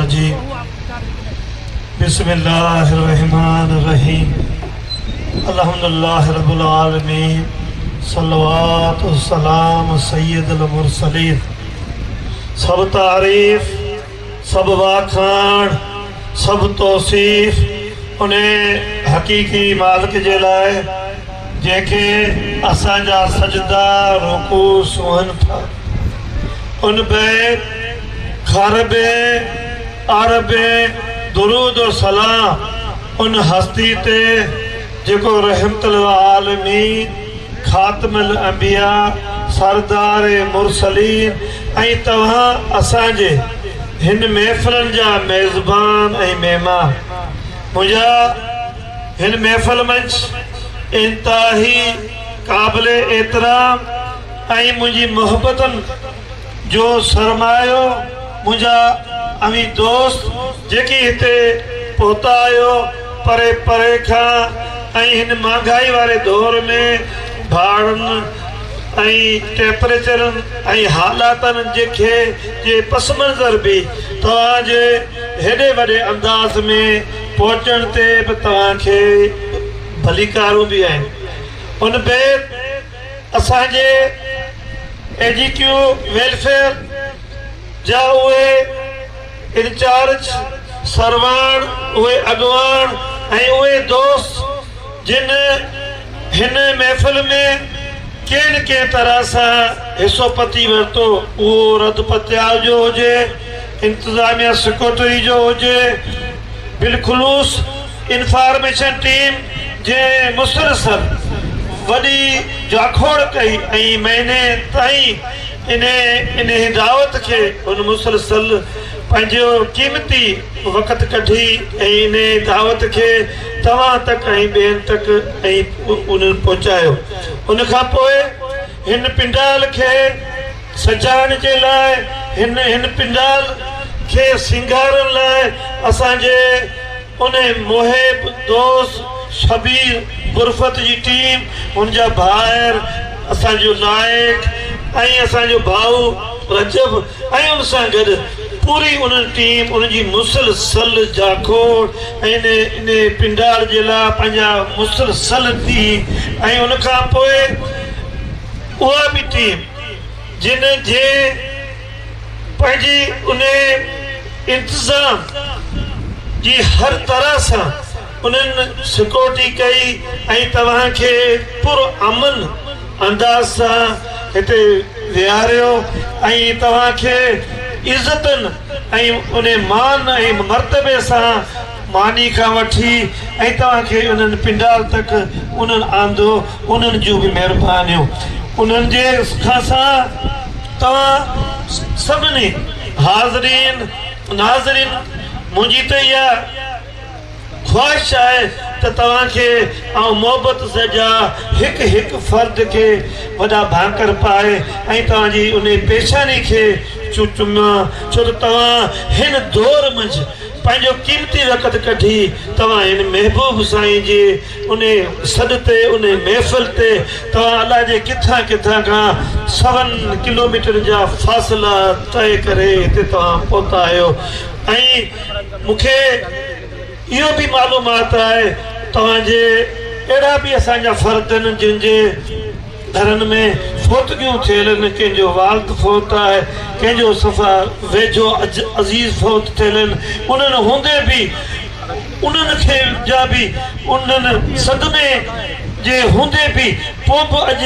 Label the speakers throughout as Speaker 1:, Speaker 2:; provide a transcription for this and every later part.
Speaker 1: الرجيم بسم الله الرحمٰن الرحيم الحمد الله رب العالمين صلوات السلام سيد المرسلين سڀ تعريف سڀ واکاڻ سڀ توصيف ان حقيقي مالڪ جي لاء جنهن کي اسان جا سجدا رڪوع سونهن ٿا ان بيت خربين اربين درود و سلام ان هستي تي جيڪو رحمت للعالمين، خاتم الانبياء، سردار مرسلين ۽ توهان اسان جي هن محفلن جا ميزبان ۽ مهمان منهنجا هن محفل منجھ انتهائي قابل احترام ۽ منهنجي محبتن جو سرمايو منهنجا اوهين دوست جيڪي هتي پهتا آهيو پري پري کان ۽ هن مهانگائي واري دور ۾ ڀاڙن ۽ ٽيمپريچرن ۽ حالاتن جي کي جي پس منظر به توهان جي هيڏي وڏي انداز ۾ پهچڻ تي به توهان کي ڀليڪارون به آهن ان بيت اسان جي اي ڊي ٽيو ويلفيئر جا اهي انچارج سرواڻ، اهي اڳواڻ ۽ اهي دوست جن هن محفل ۾ ڪنهن نه ڪنهن طرح سان حصو پتي ورتو، اهو رڌ پتيال جو هجي، انتظاميا سيڪريٽري جو هجي، بالخلوص انفارميشن ٽيم جي مسلسل وڏي جاکوڙ ڪئي ۽ مهيني تائين انهيء دعوت کي هن مسلسل پنهنجو قيمتي وقت ڪڍي ۽ انهيء دعوت کي توهان تڪ ۽ ٻين تڪ ۽ انهن پهچايو ان کان پوء هن پنڊال کي سجائڻ جي لاء هن هن پنڊال کي سينگارڻ لاء اسان جي ان محب دوست شبير برفت جي ٽيم هن جا ڀائر اسان جو نائڪ ۽ اسان جو ڀائو رجب ۽ ان سان گڏ پوري ان ٽيم ان جي مسل سل جاکوڙ ۽ ان پنڊال جي لاء پنهنجا مسل سل ٿي ۽ ان کان پوء اها به ٽيم جن جي پنهنجي انهي انتظام جي هر طرح سان انهن سڪيورٽي ڪئي ۽ توهان کي پر امن انداز سان هتي ويهاريو ۽ توهان کي عزتن ۽ انهي مان ۽ مرتبي سان ماني کان وٺي ۽ توهان کي انهن پنڊال تڪ انهن آندو انهن جون به مهربانيون انهن جي کان سان توهان سڀني حاضرين ناظرين منهنجي ته اها خواهش آهي ته توهان کي آئون محبت سجا هڪ هڪ فرد کي وڏا ڀانڪر پائي ۽ توهان جي انهي پيشاني کي چون چمان ڇو ته توهان هن دور منجهه پنهنجو قيمتي وقت ڪڍي توهان هن محبوب سائين جي انهي سڏ تي انهي محفل تي توهان الاء جي ڪٿان ڪٿان کان سون ڪلوميٽر جا فاصلا طئي ڪري هتي توهان پهتا آهيو ۽ مون کي اهو به معلومات آهي توهان جي اهڙا به اسان جا فرد آهن جن جي گهرن ۾ فوتگيون ٿيل آهن، ڪنهن جو والد فوت آهي، ڪنهن جو صفا ويجهو عزيز فوت ٿيل آهن، انهن هوندي به انهن کي جا به انهن صدمي جي هوندي به پوء به اڄ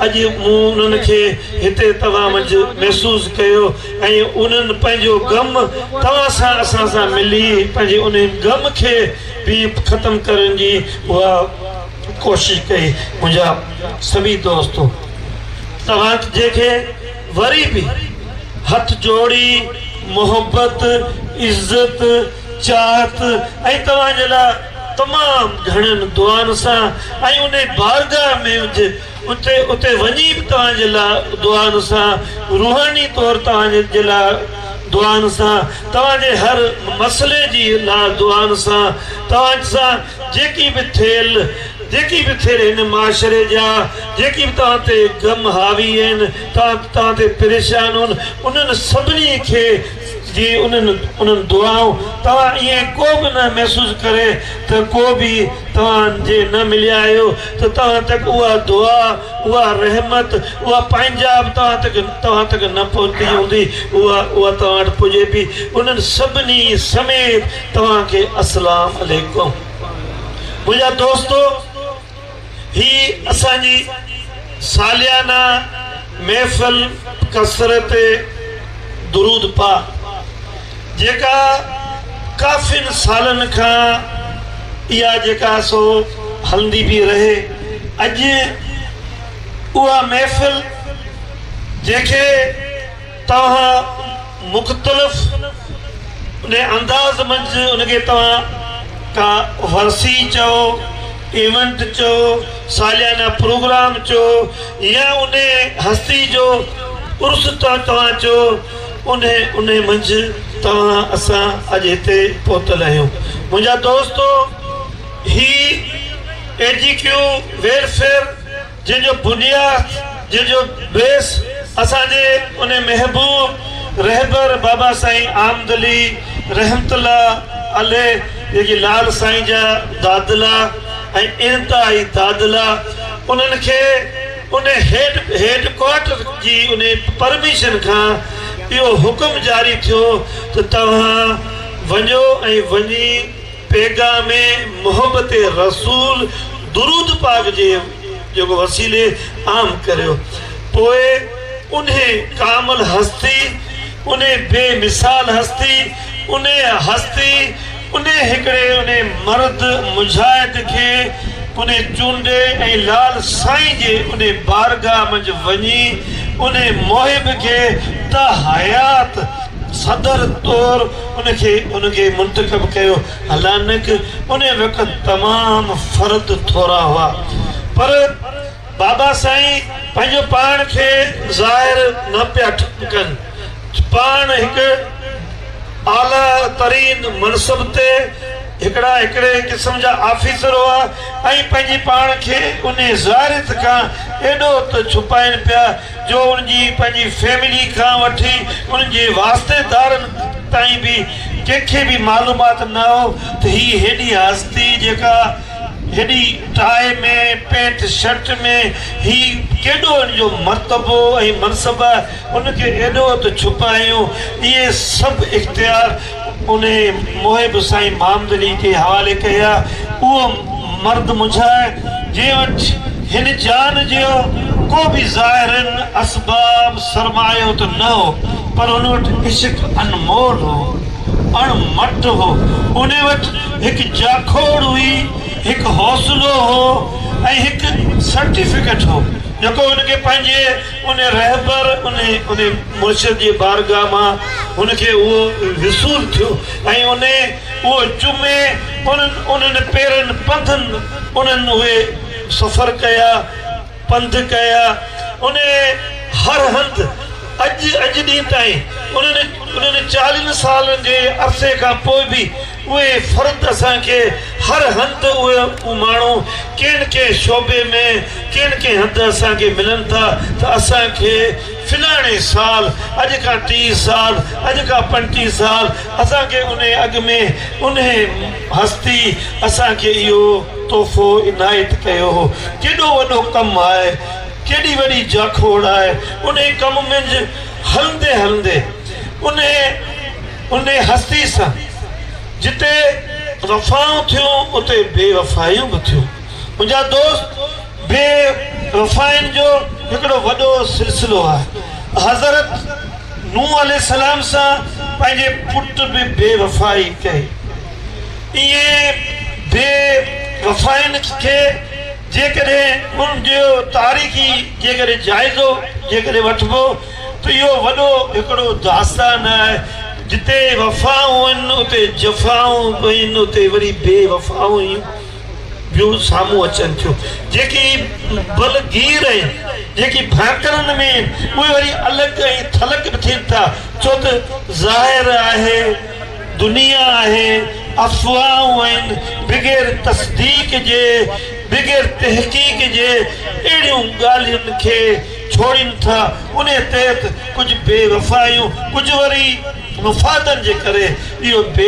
Speaker 1: اڄ مون انهن کي هتي توهان منجهه محسوس ڪيو ۽ انهن پنهنجو غم توهان سان اسان سان ملي پنهنجي انهي غم کي به ختم ڪرڻ جي اها ڪوشش ڪئي منهنجا سڀئي دوست توهان جي کي وري به هٿ جوڙي محبت عزت چاهت ۽ توهان جي لاء تمام گهڻين دعائن سان ۽ انهي بارگاهه ۾ اتي اتي وڃي به توهان جي لاء دعائن سان روحاني طور توهان جي لاء دعائن سان توهان جي هر مسئلي جي لاء دعائن سان توهان سان جيڪي به ٿيل جيڪي به ٿيل هن معاشري جا جيڪي به توهان تي غم حاوي آهن توهان توهان تي پريشان هن انهن سڀني کي جي انهن انهن دعائون توهان ائين ڪو به نه محسوس ڪري ته ڪو به توهان جي نه مليا آهيو ته توهان تڪ اها دعا اها رحمت اها پنهنجا به توهان تڪ توهان تڪ نه پهتي هوندي اها اها توهان وٽ پڄي پي انهن سڀني سميت توهان کي اسلام عليڪم منهنجا دوستو هي اسان جي ساليانه محفل ڪثرت درود پاڪ جيڪا ڪافين سالن کان اها جيڪا سو هلندي پي رهي اڄ اها محفل جنهن کي توهان مختلف انهي انداز منجھ ان کي توهان ڪا ورسي چئو، ايونٽ چئو، ساليانه پروگرام چئو يا انهي هستي جو عرس توهان چئو انهي انهي منجھ توهان اسان اڄ هتي پهتل آهيون منهنجا دوستو هي اي جي ڪيو ويلفيئر جنهن جو بنياد، جنهن جو بيس اسان جي ان محبوب رهبر بابا سائين آمدلي رحمت الله عليه جيڪي لال سائين جا دادلا ۽ انتهائي دادلا انهن کي ان هيڊ هيڊ ڪوارٽر جي ان پرميشن کان اهو حڪم جاري ٿيو ته توهان وڃو ۽ وڃي پيغام محبت رسول درود پاڪ جي جيڪو وسيلي عام ڪريو پوء انهي ڪامل هستي انهي بي مثال هستي انهي هستي انهي هڪڙي انهي مرد مجاهد کي انهي چونڊي ۽ لعل سائين جي انهي بارگاهه منجهه وڃي انهي محب کي ته حيات صدر طور ان کي ان کي منتخب ڪيو هلانڪ ان وقت تمام فرد ٿورا هئا پر بابا سائين پنهنجو پاڻ کي ظاهر نه پيا ڪن پاڻ هڪ اعليٰ ترين منصب تي هڪڙا هڪڙي قسم جا آفيسر هئا ۽ پنهنجي پاڻ کي انهي ظاهريت کان ايڏو ته ڇپائين پيا جو انهن جي پنهنجي فيملي کان وٺي انهن جي واسطيدارن تائين به ڪنهن کي به معلومات نه هو ته هي هيڏي هستي جيڪا هيڏي ٽائي ۾ پينٽ شرٽ ۾ هي ڪيڏو ان جو مرتبو ۽ منصب ان کي ايڏو ته ڇپايون اهي سڀ اختيار انهيء موهي به سائين مامدلي جي حوالي ڪئي آ. اهو مرد منجهان آهي، جنهن وٽ هن جان جيو ڪو به ظاهري اسباب سرمايو ته نه هو، پر ان وٽ عشق انمول هو، اڻ مٽ هو. انهيء وٽ هڪ جاکوڙ هئي، هڪ حوصلو هو ۽ هڪ سرٽيفڪيٽ هو، جيڪو هن کي پنهنجي. ان رهبر ان مرشد جي بارگاهه مان هن کي اهو وصول ٿيو ۽ ان اهو جمعي انهن انهن پيرن پنڌن انهن اهي سفر ڪيا پنڌ ڪيا ان هر هنڌ اڄ اڄ ڏينهن تائين انهن انهن چاليهن سالن جي عرصي کان پوء به اهي فرد اسان کي هر هنڌ اهي ماڻهو ڪنهن ڪنهن شعبي ۾ ڪنهن ڪنهن هنڌ اسان کي ملن ٿا ته اسان کي فلاڻي سال اڄ کان ٽيهه سال اڄ کان پنجٽيهه سال اسان کي انهي اڳ ۾ انهي هستي اسان کي اهو تحفو عنايت ڪيو هو ڪيڏو وڏو ڪم آهي ڪيڏي وڏي جاکوڙ آهي انهي ڪم منجهه هلندي هلندي انهي انهي هستي سان جتي وفائون ٿيون اتي بي وفائيون به ٿيون منهنجا دوست بي وفائين جو هڪڙو وڏو سلسلو آهي حضرت نوح عليه السلام سان پنهنجي پٽ به بي وفائي ڪئي ائين بي وفائين کي جيڪڏهن ان جو تاريخي جيڪڏهن جائزو جيڪڏهن وٺبو ته اهو وڏو هڪڙو داستان آهي، جتي وفائون هن اتي جفائون به هن اتي وري بي وفائون هيون بيو سامهون اچن ٿيون جيڪي بل گير آهن جيڪي ڀانڪرن ۾ آهن اهي وري الڪ ۽ ٿلڪ به ٿين ٿا ڇو ته ظاهر آهي دنيا آهي، افواهون آهن، بغير تصديق جي، بغير تحقيق جي اهڙيون ڳالهين کي ڇوڙين ٿا، انهي تحت ڪجهه بي وفايون، ڪجهه وري مفادن جي ڪري اهو بي